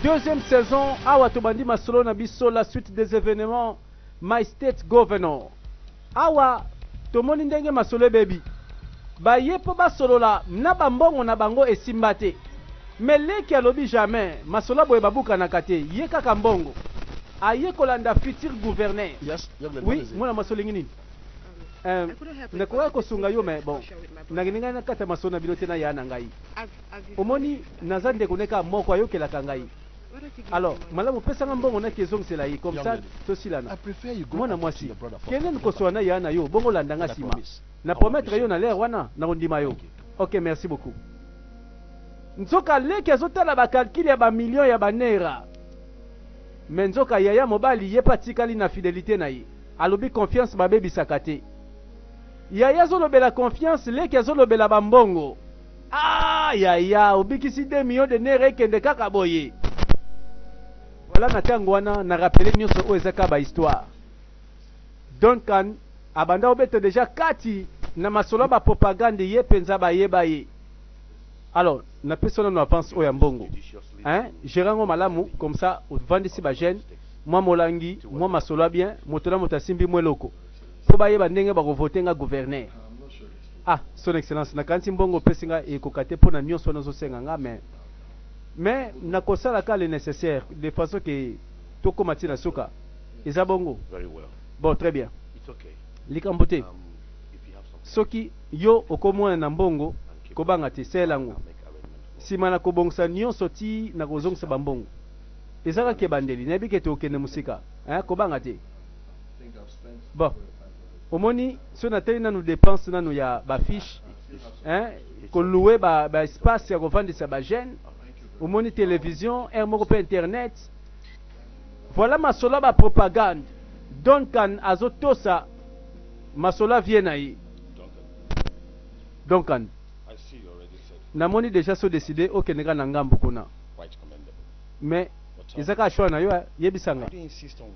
Deuxième saison awa tobandi masolo na biso la suite des événements my state governor awa tomoni ndenge masolo ebebi baye mpo basolola na bambongo na bango esimba te me leki alobi jamais masolo ya boye babukanaka te ye kaka mbongo aye kolanda futur gouverneur oui mwana mwasi olingi nini Euh, nakokaki kosunga yo me bon nalingai nakata masolo na bino te na ya na ngai Omoni naza ndeko naye kaka moko ayokelaka ngai alors malamu pesa nga mbongo naki ezongisela ye comme ça tosilana mwana mwasi kende nkosola na yaya nayo bongo olanda nga sima na promettre yo na l'heure wana nakondima yo ok merci beaucoup nzoka leki azotala ba calcul ya ba millions ya ba neera mais nzoka yaya mobali ye pe atikali na fidelite na ye alobi confiance babebisaka te yaya azolobela confiance leki azolobela ba mbongo Ah yaya obikisi de millions de nere ekende kaka boye voilà na tango wana na rappeler nyoso oyo eza ka ba histoire Duncan abanda obeta deja kati na masolo ya ba propagande ye penza bayeba ye alors na pesi wana no avance oyo ya mbongo hein gerango malamu comme ça ovandisi ba jeune mwa molangi mwa masolo ya bien moto na moto asimbi mwa eloko po bayeba ndenge bako voter nga gouverneur Ah son excellence na kanisi mbongo opesi nga ekoka te pona nionso wana ozo senga nga mais mais nako sala ka le necessaire de façon que tokoma ti na suka eza bongo bon très bien likambo te um, soki yo okomona na mbongo kobanga te sela yango nsima na kobongisa nyonso ti na kozongisa bambongo eza kaka ebandeli nayebi ke tokende mosika eh, kobanga te bon Omoni soki na tali nanu depense nanu ya ba fiche hein ko loue ba ba espace ya ko vandisa ba jeune omoni television heure moko pe internet voilà masolo ya ba propagande Duncan azo tosa masolo ya vieux na ye Duncan na moni dejà so decide okende kaka na ngambu kuna mais eza kaka choix na yo eh. yebisa nga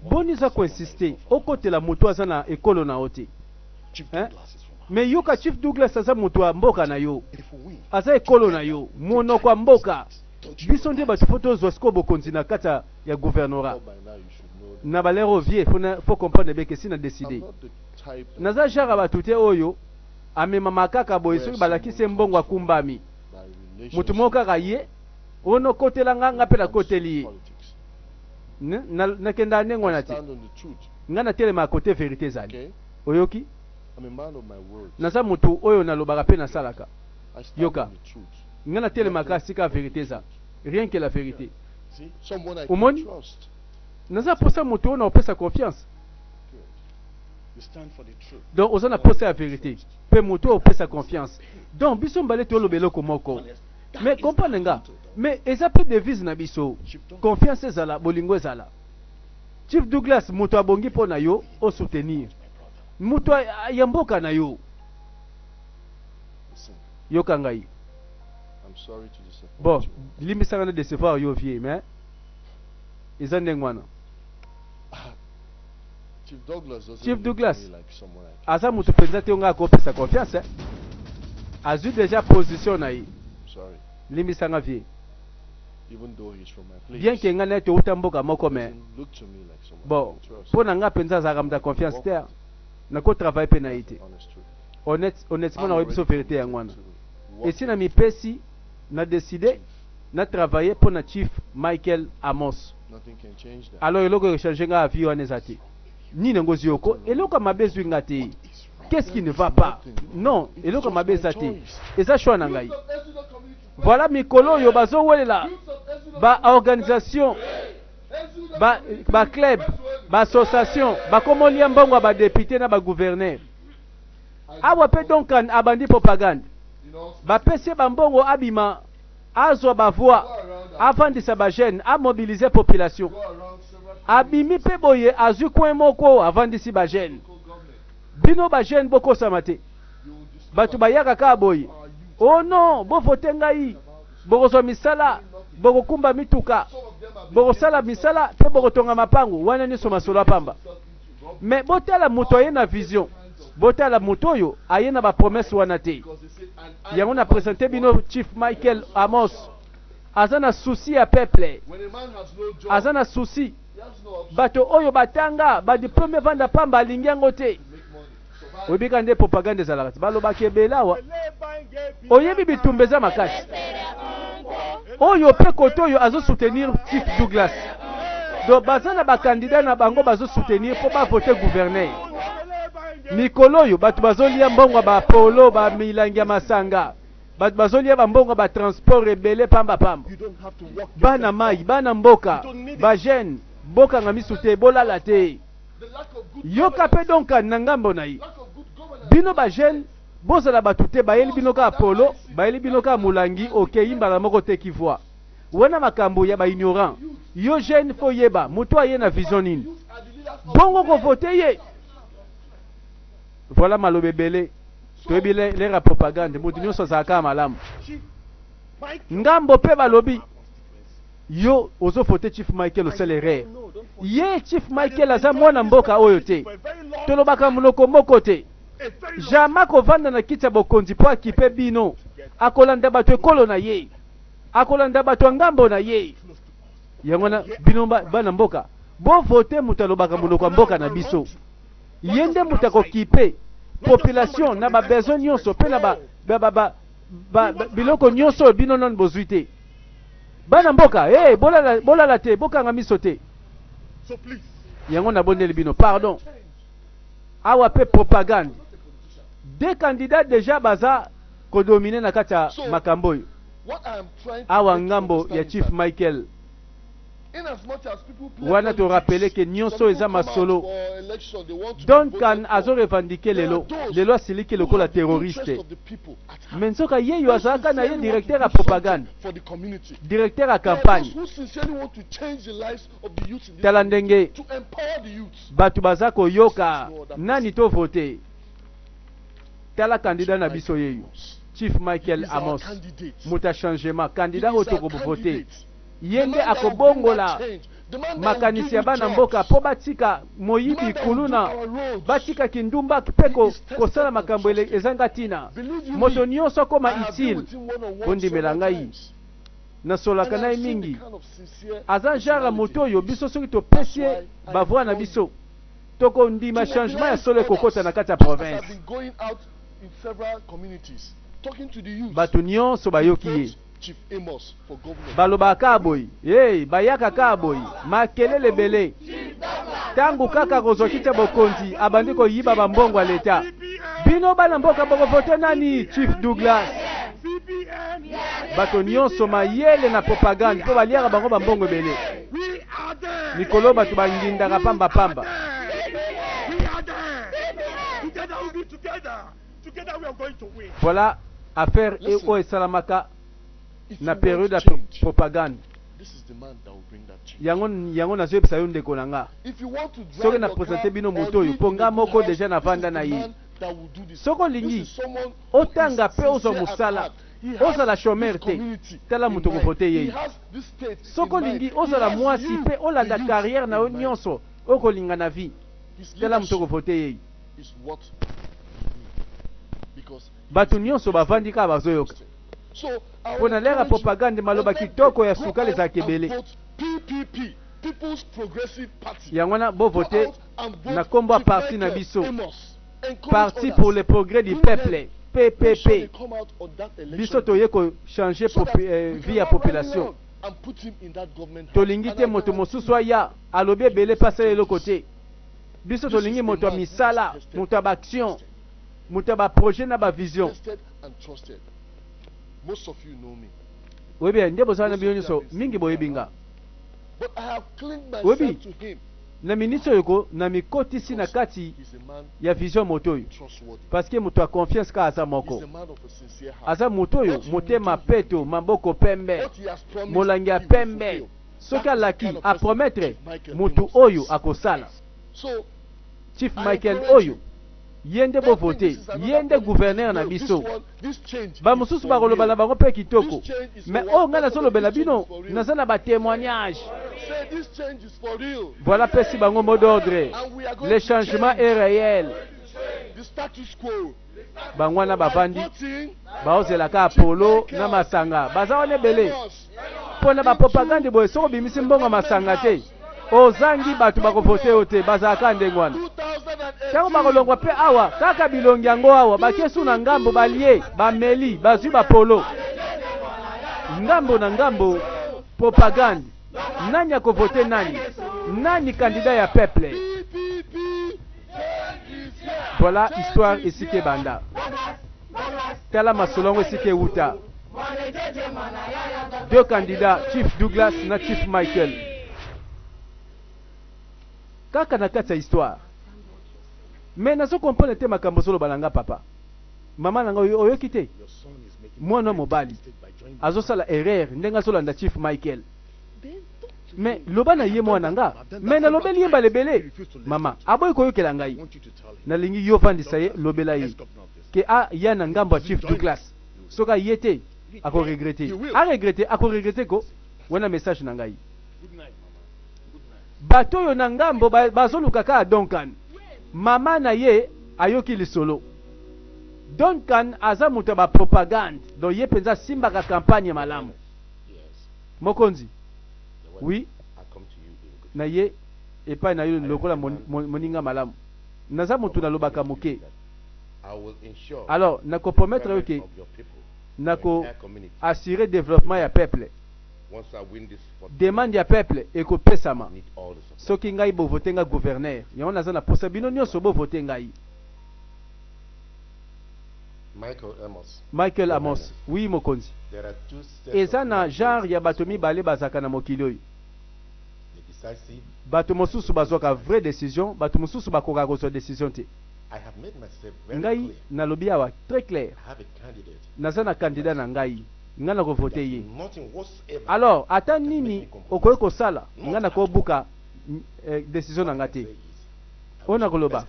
boni oza ko insiste okotela moto aza na ekolo na yo te eh? mais yoka chief douglas aza moto ya mboka na yo aza ekolo na yo monoko ya mboka biso nde bato fo tozwa sikoyo bokonzi na kati ya gouvernorat na balere oyo vie fo comprendre beke si na decide naza genre ya bato te oyo amemama kaka boye soki balakisi ye mbongo akumbami moto moko kaka ye o no kotela nga, nga pe na koteli ye. Na kenda ndenge wana te. Nga na telema cote verite ezali. Oyoki? Naza mutu oyo na lobaka pe na salaka. Yoka. Nga na telemaka esika verite eza. Rien que la verite. Omoni? Naza posa mutu oyo na kopesa confiance. Donc oza na posa ya verite. Pe mutu oyo opesa confiance. Donc biso mbale toloba eloko moko. Mais comprendre nga, mais eza pe devise na biso. Confiance ezala, bolingo ezala. Chief Douglas mutu abongi po na yo o soutenir. Mutu ya mboka na yo. Yoka ngai. Bon, limbisa nga na decevoir yo vieux, mais eza ndenge wana. Chief Douglas aza mutu penza te nga akopesa confiance azwi deja position na ye limbisa nga vie bien ke nga naye touta mboka moko me bon mpo na nga mpenza azalaka moto ya confiance te nakotravaille mpe na ye te honnêtement nakoyebi biso verité yango wana esi na mipesi na decider na travailler pona chief Michael Amos alors eloko eko changer nga avis wana eza te nini yango ezui oko eloko ya mabe ezui nga te qu'est-ce qui ne va pas non eloko ya mabe eza te eza choix na ngai voilà mikolo oyo bazowelela ba organisation ba, ba club ba association bakomolia mbongo ya ba député na ba gouverneur Awa pe Duncan abandi propagande. Bapesi ye bambongo abima azwa ba voix avandisa ba jeunes a mobiliser population. Abimi pe boye azwi coin moko avandisi ba jeunes. Bino ba jeunes bokosama te. Batu bayaka kaka boye. Oh non, bo voter ngai. Bokozwa misala, bokokumba mituka, bokosala misala pe bokotonga mapango. Wana nionso masolo ya pamba. Mais botala moto aye na vision. Botala moto oyo aye na ba promesse wana te. Yango na presente bino Chief Michael Amos. Aza na souci ya peuple. Aza na souci. Bato oyo batanga ba diplome evanda pamba alingi yango te. oyebi kaka nde propagande ezalaka te balobaka ebele awa oyebi bitumba eza makasi oyo mpe kote oyo azosoutenir chief douglas donc baza na bakandida na bango bazosoutenir mpo bavote guverner mikolo oyo bato bazolia mbongo ya bapolo bamilangi ya masanga bato bazolia bambongo ya batransport ebele pambapamba bana mai bana mboka bagene bokanga miso te bolala te Yoka pe Duncan na ngambo na ye. Bino ba jeunes bozala batu te bayeli bino kaka polo, bayeli bino kaka mulangi okeyi mbala moko oteki voix. Wana makambu ya ba ignorants. Yo jeune faut oyeba mutu aye na vision nini. Bongo ko voter ye? Voilà maloba ebele. Toyebi l'heure ya propagande, mutu nionso azalaka kaka malamu. Ngambo pe balobi. yo ozo faute chief Michael osala erreur ye chief Michael aza mwana mboka oyo te tolobaka munoko moko te jama kovanda na kiti ya bokonzi po akipe bino akolanda bato ekolo na ye akolanda bato ya ngambo na ye yango na bino bana mboka bo vote moto alobaka monoko ya mboka na biso ye nde moto akokipe population na ba besoin nyonso pe na ba, ba, ba, ba, ba, biloko nyonso oyo bino nano bozwi te Bana mboka hey, bolala, bolala te, bokanga miso te. Yango nabondeli bino pardon. Awa pe propagande. Deux candidats déjà baza kodomine na kati ya makambo oyo. Awa ngambo ya Chief Michael Wana to rappeler que nioso oyo eza masolo. Duncan azo revendiquer lelo, lelo asiliki lokola terroriste. Mais nzoka yeyo azalaka na ye directeur ya propagande, directeur ya campagne. Tala ndenge batu baza koyoka nani to voter. Tala candidat na biso yeyo. Chief Michael Amos, moto ya changement, candidat oyo tokovoter. Ye nde akobongola makanisi ya bana mboka po batika moyibi, kuluna, batika kindumba pe kosala makambo ezanga tina. Moto nionso akoma utile. Bondimela ngai. Nasololaka na ye mingi. Aza genre ya moto oyo biso soki topesi ye ba voix na biso, tokondima changement ya solo ekokota na kati ya province. Bato nionso bayoki ye. Balobaka kaka boye hey, bayaka kaka boye makelele ebele tango kaka akozwa kiti ya bokonzi abandi koyiba bambongo ya leta. Bino bana mboka bokovote nani? Chief Douglas. Bato nyonso mayele na propagande mpo baliaka bango bambongo ebele. Mikolo bato bangindaka pamba pamba. Voilà affaire et oyo esalamaka na periode ya propagande yango yango nazoyebisa yo ndeko na nga soki na presente bino moto oyo mpo nga moko deja navanda na ye soki olingi otanga mpe ozwa mosala ozala chomere te tala moto okovote yeye soki olingi ozala mwasi mpe olanda carrière na yo nyonso okolinga na vie tala moto okovote yeye Bato nyonso bavandi kaka bazoyoka. Mpo na lere ya propagande, maloba kitoko ya sukali ezalaka ebele. Yango wana bo voter na kombo ya parti na biso, Parti pour le progrès du peuple, PPP. Biso toye ko changer euh, vie ya population. Tolingi te moto mosusu aya alobi ebele mpe asala eloko te. Biso tolingi moto ya misala, moto ya ba action, moto ya ba projet na ba vision. Oyebi ya nde bozala na bino nyonso mingi boyebi nga. Oyebi na minisi oyo ko na mikotisi na kati ya vision moto oyo parce que moto ya confiance kaka aza moko aza moto oyo motema peto maboko pembe molangi ya pembe soki alaki a promettre mutu oyo akosala chief Michael oyo ye nde bo vote ye nde gouverneur na biso ba mususu bakoloba na bango pe kitoko mais oyo ngai nazolobela bino naza na ba temoignage voilà pesi bango mot d'ordre le changement est reel bango wana bavandi baozela ka polo na masanga baza wana ebele mpo na bapropagande boye soki obimisi mbongo ya masanga te ozangi bato bakovote yo te bazalaka ndenge wana ntango bakolongwa mpe awa kaka bilongi yango awa batie su na ngambo balie bameli bazwi bapolo ngambo na ngambo propagande nani akovote nani nani kandida ya peuple Voilà histoire esika ebanda. Tala masolo yango esika ewuta. Deux candidats, Chief Douglas na Chief Michael. Kaka na kati ya histoire. Mais nazo comprendre te makambo ozoloba na nga papa. Mama na nga oyoki te? Mwana mobali azosala erreur ndenge azolanda Chief Michael. Mais loba na ye mwana nga. Mais nalobeli ye mbala ebele. Mama aboyi koyokela ngai. Nalingi yo vandisa ye lobela ye ke a ya na ngambo ya Chief Douglas. Soki a ye te ako regretter. A regretter ako regretter ko. Wana message na ngai. Bato oyo na ngambo bazoluka kaka Duncan. Mama na ye ayoki lisolo. Duncan aza moto ya ba propagande donc ye penza asimbaka campagne malamu. Mokonzi, Oui, naye epai na yo lokola moninga malamu. Naza mutu nalobaka moke. Alors, nako promettre yo que nako assurer developpement ya peuple. Demande ya peuple eko pesama soki ngai bo voter nga gouverneur. Yango naza na posa bino nionso bo voter ngai. Michael Amos, Michael Amos, oui, Mokonzi. Eza na genre ya bato mibale bazalaka na mokili oyo. Bato mosusu bazwaka vraie decision, bato mosusu bakokaka kozwa decision te. Ngai, nalobi awa très clair, naza na candidat na ngai, ngai nako voter ye. Alors, ata nini okoki kosala, ngai nako buka decision na ngai te. Oyo nako loba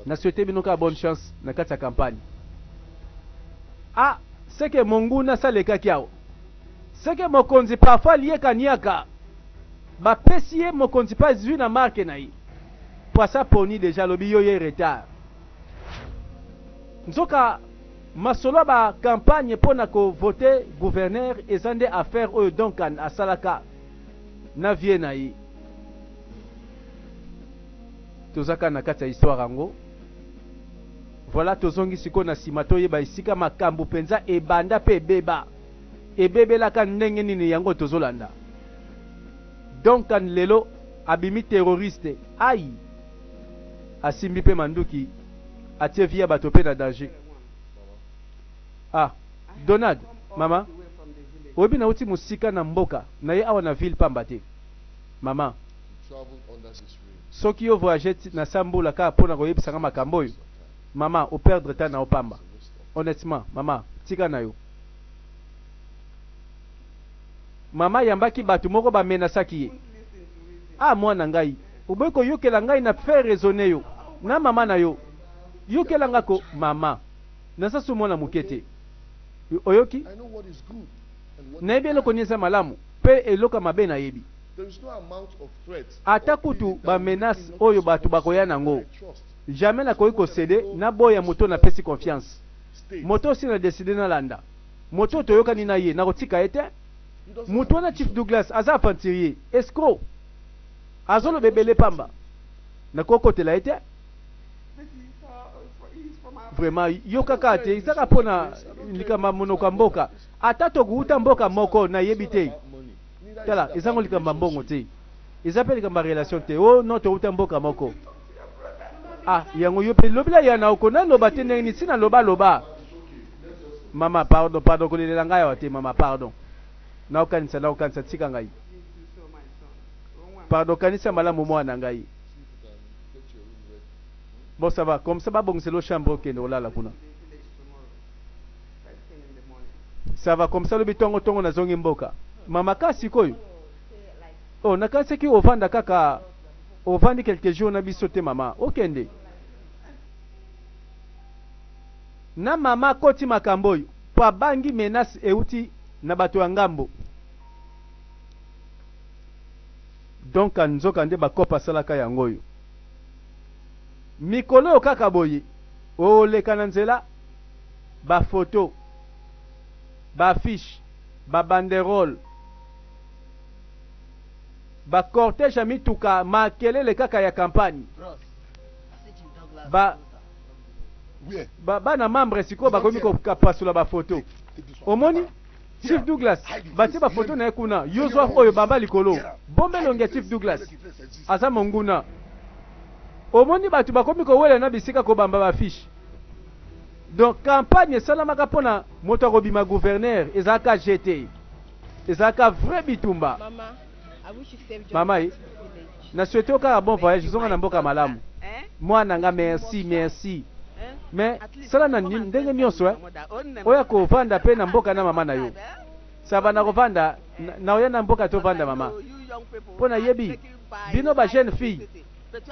na souhaite bino kaka bonne chance na kati ya campagne. Ah ce que monguna asi alekaki awa? Ce que mokonzi parfois alie kaniaka ba pesi ye mokonzi pe azui na marque na ye po asi aponi dejà alobi yo ye retard. Nzoka masolo ya ba campagne pona ko vote gouverneur eza nde affaire oyo Duncan asalaka na vie na ye. toza kaka na kati ya histoire yango voilà tozongi sikoyo na nsima toyeba esika makambo mpenza ebanda mpe ebeba ebebelaka ndenge nini yango tozolanda donkan lelo abimi terroriste ai asimbi mpe manduki atie vie ya bato mpe na danger ah donald mama oyebi nauti mosika na mboka na ye awa na ville pamba te Maman soki yo voyager ti na sa mbula kaka pona ko yebisa nga makambo oyo maman o perdre temps nao pamba honnetement maman tika nayo maman ayambaki batu moko ba menacaki ye ah muana ngai oboyi ko yokela ngai na fait raisonne yo na maman nayo yokela nga ko maman naza su muana muke te oyoki. Nayebi eloko nyonso ya malamu mpe eloko ya mabe nayebi. Ata kutu ba menaces oyo bato bakoya na yango, jamais nakoki ko ceder, naboya moto oyo napesi confiance, moto oyo si na decider nalanda, moto oyo toyokani na ye, nakotika ye te. Moto wana Chief Douglas aza aventurier, escroc, azoloba ebele pamba, nakoki kokotela ye te. Vraiment, yoka kaka te, eza kaka mpo na likambo ya monoko ya mboka. Ata tokouta mboka moko nayebi te tala eza ngo likambo ya mbongo te eza pe likambo ya relation te oh non towuta mboka moko ah yango yo pe lobela yana oko na loba te ndenge nini si na loba loba mama pardon pardon kolelela ngai awa te mama pardon naokanisa naokanisa tika ngai pardon kanisa malamu mwana ngai bon ça va comme ça babongiselo chambre okende olala kuna ça va comme ça lobi tongo tongo nazongi mboka mama ka sikoyo oh nakanisaki ovanda kaka ovandi quelques jours na biso te mama okende na mama akoti makambo oyo mpo abangi menace euti na bato ya ngambo donk nzoka nde bakope asalaka yango oyo mikolo oyo kaka boye oleka na nzela ba photos, ba affiches, ba banderoles, ba corteges ya mituka, makelele kaka ya campagne. Ba, ba, bana membres sikoyo bakomi kopasula ba photos. Omoni? Chief Douglas, batie ba photos na ye kuna. Yo zwa oyo bamba likolo. Bombe elongi ya Chief Douglas. Aza monguna. Omoni bato bakomi kowela na bisika kobamba ba affiches. Donc campagne esalamaka pona moto akobima gouverneur ezalaka jeu te ezalaka vrai bitumba mama ye na souhaite okaka bon voyage zonga na mboka malamu mwana nga merci merci mais sala na ndenge nyonso eh. oya kovanda pe na mboka na mama na yo saba na kovanda na oya na mboka tovanda mama mpo nayebi bino ba jeune fille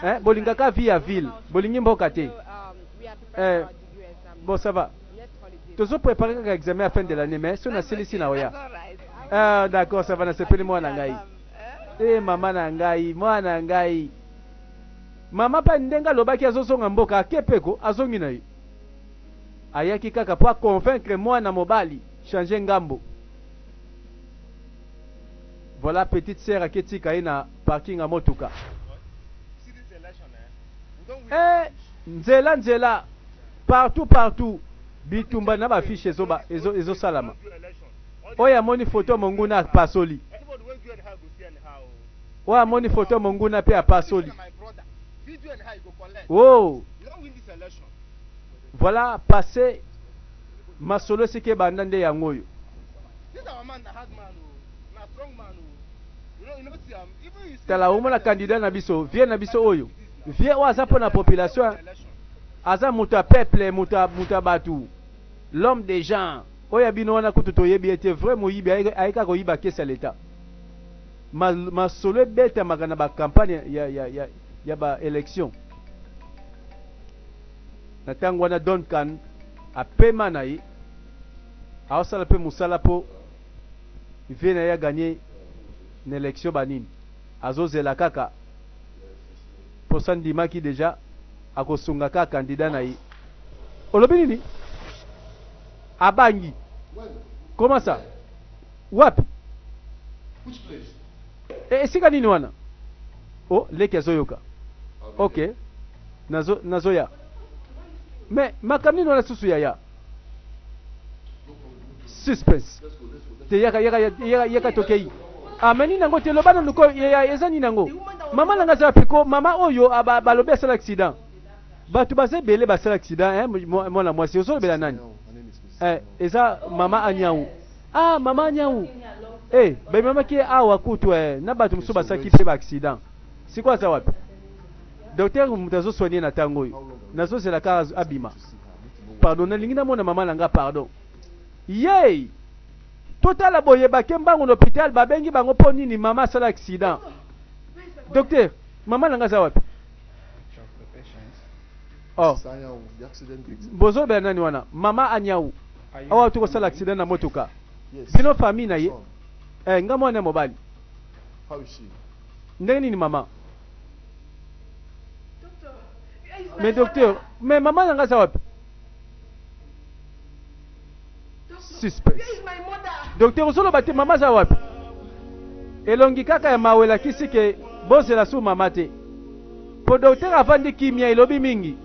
eh, bolinga ka vie ya ville bolingi mboka te eh, bon ça va tozo prépare kaka examen ya fin de l'année mais soki nasilisi na oya ah, d'accord ça va nasepeli mwana na ngai e mama na ngai mwana na ngai mama mpe ndenge alobaki azozonga mboka akepeko azongi na ye ayaki kaka mpo aconvaincre mwana mobali change ngambo Voilà petite sœur ake tika ye na parking ya motuka. Eh, nzela nzela partout partout bitumba na ba fiche ezo ezo ezo salama. Oyo amoni photo monguna apasoli. Oyo amoni photo monguna pe apasoli. Oh. Voilà passé Masolo esika ebanda nde yango oyo. Tala omona candidat na biso vieux na biso oyo vieux oyo aza pona population aza moto ya peuple moto ya moto ya batu l'homme des gens oyo ya bino wana kutu toyebi ye te vrai moyibi aye aye kaka koyiba kesi ya leta Ma- masolo ebetamaka na ba campagne ya, ya, ya, ya ba election Na ntango wana, Duncan apema na ye, aosala mpe mosala mpo vieux na ye a gagner na election ba nini? Azozela kaka mposa andimaki dejà akosunga kaka candidat na ye. Olobi nini? Abangi? Comment ça? Wapi? Eh, esika nini wana? Oh, leki azoyoka. Ok. Nazo, nazoya. Me, makambo nini wana susu yaya? Suspense. Te yaka, yaka, yaka, yaka tokei. Ah, mais nini yango te loba nanu ko yaya eza nini yango? Mama nanga aza wapi ko? Mama oyo ah, ba- balobi asala accident. Bato baza ebele basala accident, eh, mwa- mwana mwasi ozolobela nani? Eh, eza mama Anyau. Ah maman Niawu eh bamemaki ye awa kutu eh, na bato mosusu basalaki mpe ba accident. Sikoyo aza wapi? Docteur moto azo soigner na tango oyo nazozela kaka az- abima. Pardon, nalingi namona mama na nga pardon. Yey! Totala boye bake mbangu na hôpital babengi bango mpo nini mama asala accident. Docteur, mama na nga aza wapi? Oh, bozolobela nani wana? Mama Anyawu. awa to kosala accident na motuka bino famille na ye eh, nga mwana ya mobali ndenge nini mama mais docteur mais mama na nga aza wapi suspect docteur ozoloba te mama aza wapi elongi kaka ya mawa elakisi ke bozela su mama te Po docteur avandi kimia elobi mingi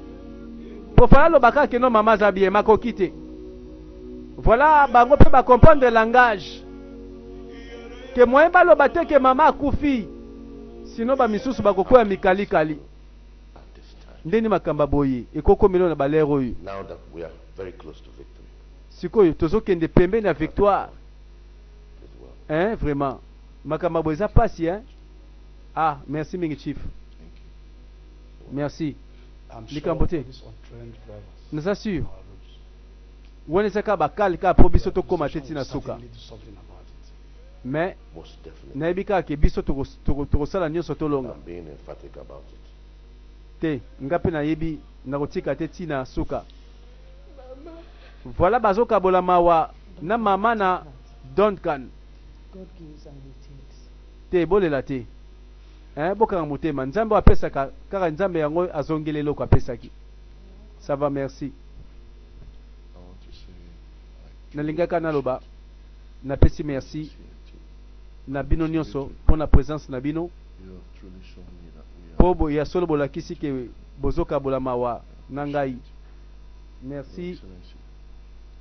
po fala loba kaka keno mama aza bien makoki te voilà bango pe ba comprendre langage ke moyen baloba te ke mama akufi sino ba misusu bakokwea mikali kali ndeni makamba boye ekokomelo na balere oyo sikoyo tozokende pembeni ya victoire hein vraiment makamba boye eza pasi hein Ah merci mingi chief. Merci. Likambo te. Naza sûr. Wana eza kaka bakali kaka mpo biso tokóma te ntina suka. Mais nayebi kaka ke biso tokosala nyonso tolonga. Te, nga mpe nayebi nakotika te ntina suka. Voilà bazokabola mawa na mama na Duncan. te bolela te hein bokanga motema nzambe oyo apesaka kaka nzambe yango azongeli eloko apesaki ça va merci nalingaka naloba napesi merci na bino nyonso mpo na presence na bino mpo ya solo bolakisi ke bozokabola mawa na ngai merci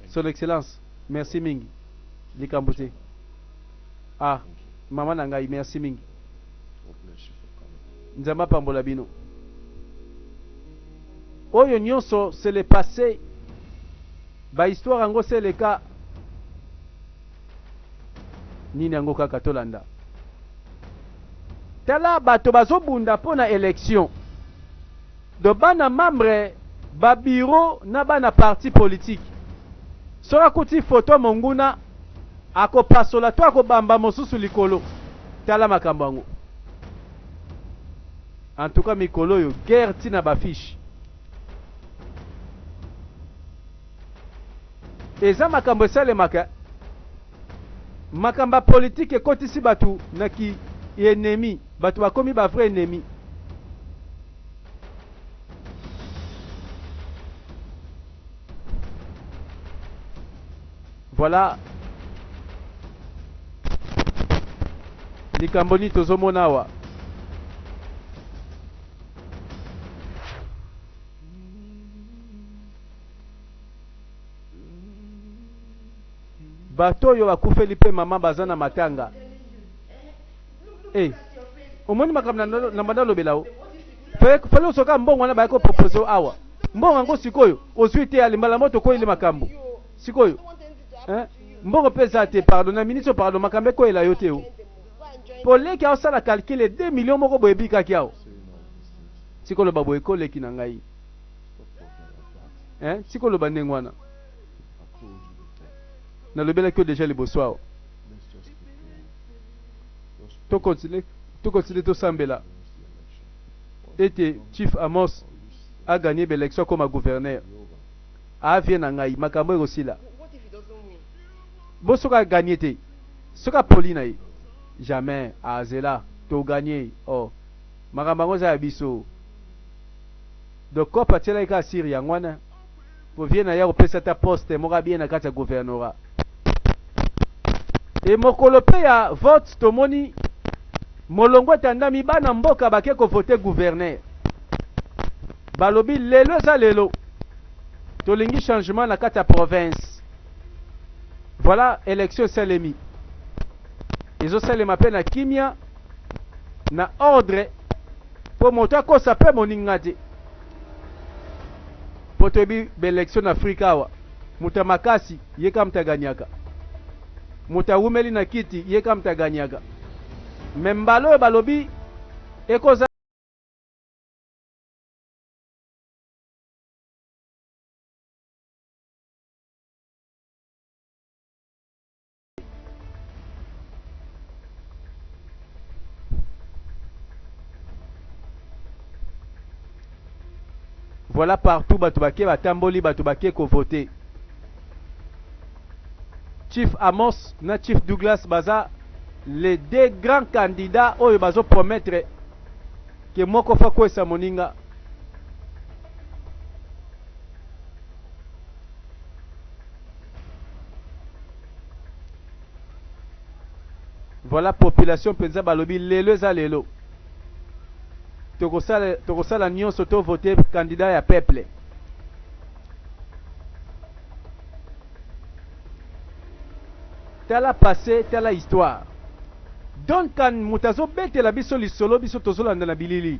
son excellence merci mingi likambo te ah maman na ngai merci mingi nzambe apambola bino oyo nyonso c'est le passé bahistoire yango se eleka nini yango kaka tolanda tala bato bazobunda mpo na election Donc bana membre ba bureau na bana parti politique soki akuti photo ya monguna akopasola to akobamba mosusu likolo tala makambo yango en tout cas mikolo oyo guerre ti na ba fiche eza makambo esalemaka makambo ya politike ekotisi bato na ki enemi bato bakomi ba vrai enemi Voilà likambo nini tozomona awa bato oyo bakufeli mpe mama baza na matanga Eh, omoni makambo na na banda olobela yo. Fallait fallait osoka mbongo wana bayaki kopropose yo awa. Mbongo yango sikoyo ozwi te alimbala moto okweyeli makambo. Sikoyo eh, mbongo mpe eza te pardon na ministre pardon makambo ekweyela yo te yo. Mpo leki aosala calcule 2 millions moko boye ebikaki awa. Sikoyo loba boye ko leki na ngai. Eh, sikoyo loba ndenge wana. Nalobelaki yo deja liboso awa. to continue to continue tosambela ete chief Amos a gagner ba election akoma gouverneur a vie na ngai makambo ekosila bo soki a gagner te soki apoli na ye jamais azela to gagner oh makambo yango eza ya biso donc coop atielaki kaka siri yango wana Po vieux na ye akopesa ata poste moko ya bien na kati ya gouvernorat. Et mokolo pe ya vote tomoni molongo etandami bana mboka bake ko voter gouverneur. Balobi lelo eza lelo tolingi changement na kati ya province. Voilà election esalemi. Ezo salema pe na kimia, na ordre po moto akosa pe moninga te. po toyebi ba election na afrika awa moto ya makasi ye kaka moto aganyaka moto awumeli na kiti ye kaka moto aganyaka me mbala oyo balobi ekoza Voilà partout bato bake batamboli bato bake kovote. Chief Amos na Chief Douglas baza les deux grands candidats oyo bazo promettre que moko fa kwesa moninga. Voilà population penza balobi lelo eza lelo. Tokosala tokosala nyoso to voter candidat ya peuple. Tala passé, tala histoire. Duncan moto azobetela biso lisolo biso tozolanda na bilili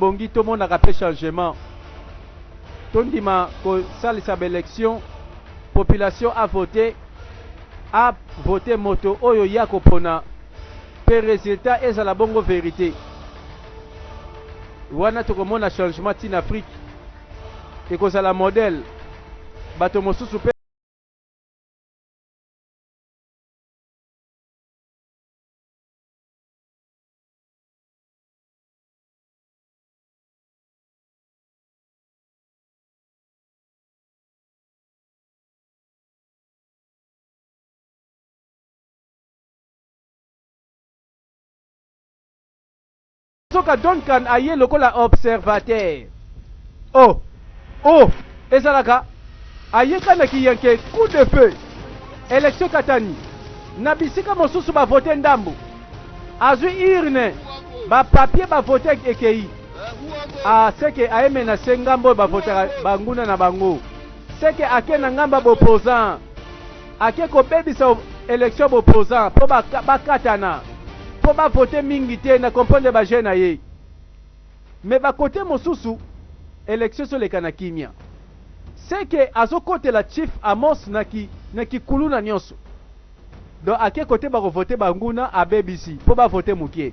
Ebongi tomonaka mpe changement, tondima kosalisa ba election, population a vote, a vote moto oyo ye akopona mpe resultat ezala bongo verite. Wana tokomona changement ti na Afrique, ekozala modèle bato mosusu mpe Soka Duncan aye lokola observateur. Oh! Oh! Ezalaka ayeka na kiyanke coup de feu election katani na bisika mosusu ba vote ndambu azwi urne ba papier ba vote ekeyi a ah, seke aye menase ngambo oyo ba votaka banguna na bango seke ake na ngambo ya bopposant ake kobebisa election bopposant mpo bakatana ba mpo bavote mingi te na comprendre baje na ye Mais ba cote mosusu election ezo leka na kimia. Ce que azo kotela Chief Amos na ki na ki kuluna nionso. Donc ake cote bako vote ba nguna abebisi po ba vote mukie.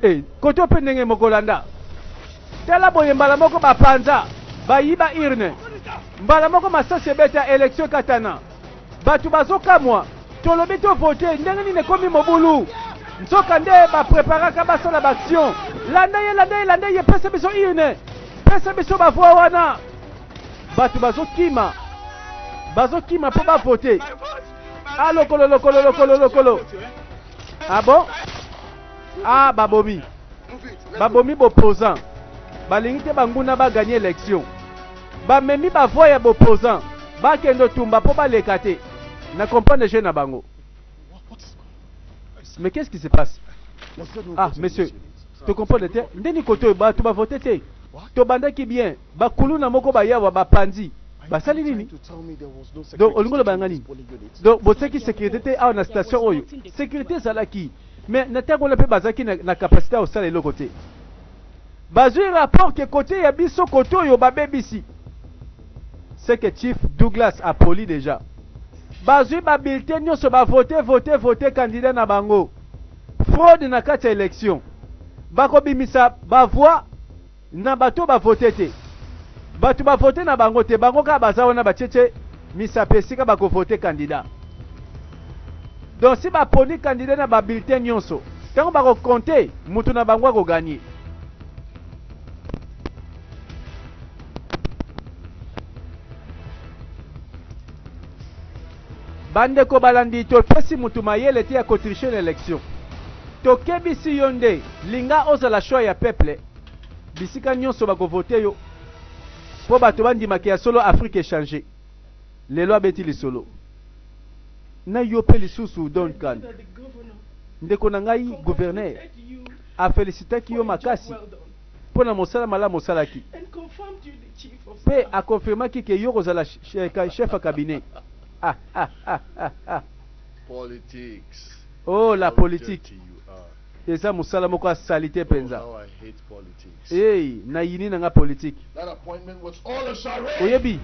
Eh cote ope ndenge moko landa. Tala boye mbala moko ba panza ba yiba urne. Mbala moko masasi ebeta election ekatana. bato bazokamwa tolobi to vote ndenge nini ekomi mobulu nzoka nde bapreparaka basala baaction landa ye landa ye landa ye pesa biso une pesa biso bavoi wana bato bazokima bazokima mpo bavote a ah, lokolo lokolo lokolo lokolo abo ah a ah, babomi babomi bopozan balingi te banguna baganye election Ba memi ba voix ya b'opposants ba kendo tumba po ba leka te. Na comprendre jeu na bango. Mais qu'est-ce qui se passe? Ah monsieur, to comprendre te. Ndeni kote oyo batu ba vote te. To bandaki bien. Ba kuluna moko ba yawa ba panzi. basali nini donc olingi oloba yanga nini donc botiaki sécurité te awa na station oyo sécurité ezalaki mais na ntango wana mpe bazalaki na, na capacité ya kosala eloko te bazui rapport que cote ya biso cote oyo babebisi c'est que chief Douglas a poli déjà bazui ba bulletin nyoso ba vote vote vote candidat na bango fraude na kati ya election bakobimisa ba voix na bato ba vote te bato ba vote na bango te bango kaka baza wana ba cheche Misapi esika bako voter candidat. Donc si ba poni candidat na ba bulletins nionso, tango bako compter, mutu na bango ako gagner. Bandeko balandi topesi mutu mayele te ya ko tricher na election. Tokebisi yo nde linga ozala choix ya peuple bisika nionso bako voter yo. Po bato bandima ke ya solo Afrique echanger. Lelo abeti lisolo na yo pe lisusu Don Can. Ndeko na ngai Gouverneur a felicitaki yo makasi po na mosala malamu osalaki pe a confirmaki ke yo okozala Chef ya Cabinet. Ah ah ah ah ah! Oh la politique! Eza musala moko ya salite penza. Hey, na yini na nga politique. Oyebi,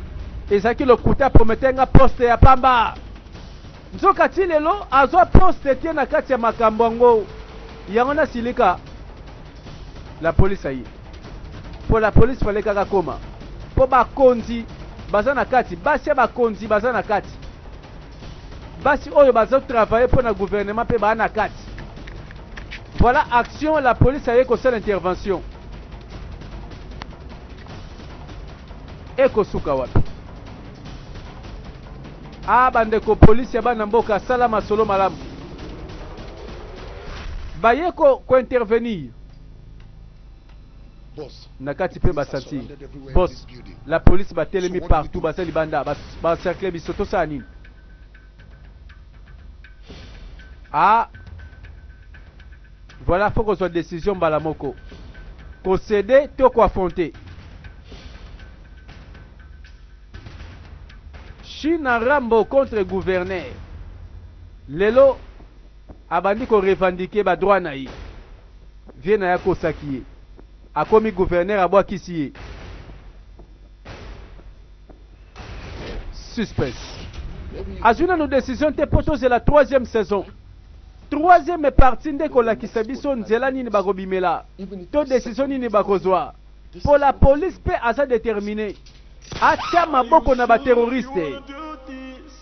ezalaki lokuta promettre nga poste ya pamba. Nzoka ti lelo azwa poste te na kati ya makambo yango. Yango na silika. La police aye. Pour la police fallait kaka koma. Po bakonzi baza na kati, basi ya bakonzi baza na kati. basi oyo bazo travailler mpo na gouvernement mpe baa na kati voilà action la police aye kosala intervention ekosuka wapi a bandeko polisi ya bana mboka sala masolo malamu baye kointervenir ko na kati pe ba sentir boss la police ba telemi partout baza libanda ba, ba cercle biso tosala nini ah voilà faut kozwa décision mbala moko kosede to koaffronte china rambo contre gouverneur lelo abandi korevendike badroit na ye Vieux naye akosaki ye. Akomi gouverneur abwakisi ye. Suspense. Azwi nanu decision te po tozela troisième saison. Troisième partie nde ekolakisa biso nzela nini bakobimela to decision nini bakozwa. Po la police pe aza determine atya maboko na ba terroristes.